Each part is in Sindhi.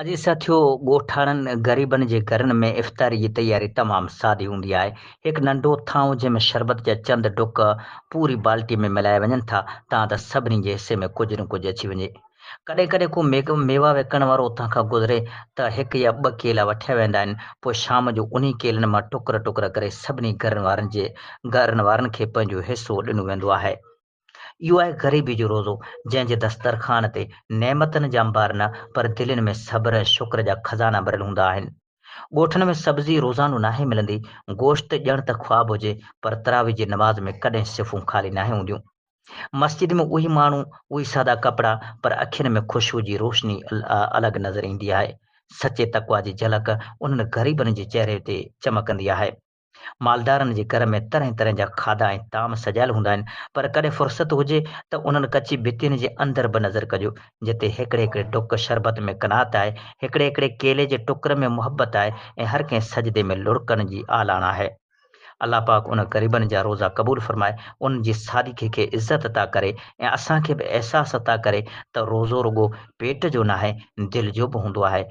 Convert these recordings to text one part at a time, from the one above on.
اڄ ساٿيو ڳوٺاڻن غريبن جي گهرن ۾ افطاري جي تياري تمام سادي هوندي آهي. هڪ ننڍو ٿانو جنهن ۾ شربت جا چند ڍڪ پوري بالٽي ۾ ملائي وڃن ٿا تان ته سڀني جي حصي ۾ ڪجهه نه ڪجهه اچي وڃي. ڪڏهن ڪڏهن ڪو ميوا وڪڻڻ وارو اتان کان گذري ته هڪ يا ٻه ڪيلا وٺيا ويندا آهن پوء شام جو انهي ڪيلن مان ٽڪر ٽڪر ڪري سڀني گهرن وارن کي پنهنجو حصو ڏنو ويندو آهي. اهو آهي غريبي جو روزو، جنهن جي دسترخوان تي نعمتن جا انبار نه پر دلين ۾ صبر ۽ شڪر جا خزانا ڀريل هوندا آهن. ڳوٺن ۾ سبزي روزانو ناهي ملندي، گوشت ڄڻ ته خواب هجي پر تراويح جي نماز ۾ ڪڏهن صفون خالي ناهي هونديون. مسجد ۾ اهي ماڻهو، اهي سادا ڪپڙا پر اکين ۾ خوشبو جي روشني الڳ نظر ايندي آهي. سچي تقويٰ جي جهلڪ انهن غريبن جي چهري تي چمڪندي آهي. مالدارن جي گهر ۾ طرحين طرحين جا کاڌا ۽ طعام سجايل هوندا آهن، پر ڪڏهن فرصت هجي ته انهن ڪچي ڀتين جي اندر به نظر ڪجو، جتي هيڪڙي هيڪڙي ڍڪ شربت ۾ قناعت آهي، هيڪڙي هيڪڙي ڪيلي جي ٽڪر ۾ محبت آهي ۽ هر ڪنهن سجدي ۾ لڙڪن جي آلاڻ آهي. الله پاڪ انهن غريبن جا روزا قبول فرمائي، انهن جي سادگي کي عزت عطا ڪري ۽ اسان کي به احساس عطا ڪري ته روزو رڳو پيٽ جو ناهي، دل جو به هوندو آهي.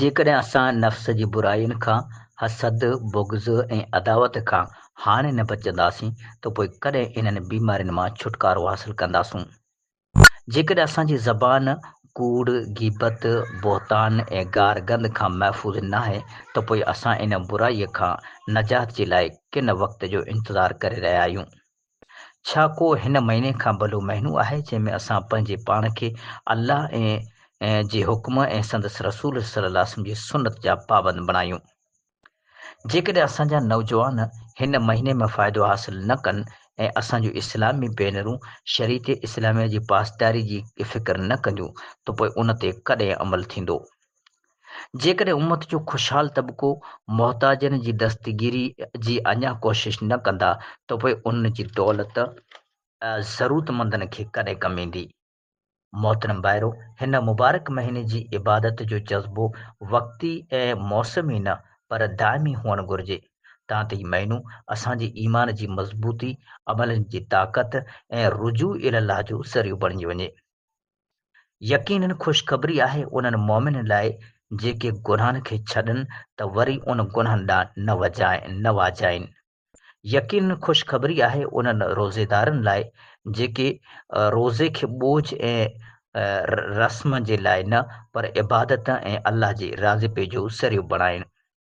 جيڪڏهن اسان نفس جي برائين کان، حسد، بغض ۽ عداوت کان هاڻي نه بچنداسين ته پوء ڪڏهن انهن بيمارين مان ڇوٽڪارو حاصل ڪنداسون؟ جيڪڏهن اسان جي زبان ڪوڙ، غيبت، بهتان ۽ گار گند کان محفوظ ناهي ته پوء اسان ان برائيء کان نجات جي لاء ڪن وقت جو انتظار ڪري رهيا آهيون؟ ڇا ڪو هن مهيني کان ڀلو مهينو آهي جنهن ۾ اسان پنهنجي پاڻ کي الله ۽ جي حڪم ۽ سندس رسول صلّي الله عليه وسلّم جي سنّت جا پابند بڻايون. جيڪڏهن اسان جا نوجوان هن مهيني ۾ فائدو حاصل نه ڪن ۽ اسان جون اسلامي ڀينرون شريعت اسلاميه جي پاسداري جي فڪر نه ڪنديون ته پوء ان تي ڪڏهن عمل ٿيندو؟ جيڪڏهن امت جو خوشحال طبقو محتاجن جي دستگيري جي اڃا ڪوشش نه ڪندا ته پوء ان جي دولت ضرورتمندن کي ڪڏهن ڪم ايندي؟ محترم ڀائرو! هن مبارڪ مهيني جي عبادت جو جذبو وقتي ۽ موسمي نه پر دائمي هئڻ گهرجي، تان ته هي مهينو اسان جي ايمان جي مضبوطي، عملن جي طاقت ۽ رجوع الالله جو ذريعو بڻجي وڃي. يقيناً خوشخبري آهي انهن مؤمنن لاء جيڪي گناهن کي ڇڏن ته وري ان گناهن ڏانهن نه وجهائن نه واجهائين. يقيناً خوشخبري آهي انهن روزيدارن لاء جيڪي روزي کي ٻوجهه ۽ رسم جي لاء نه پر عبادت ۽ الله جي راضپي جو ذريعو بڻائين.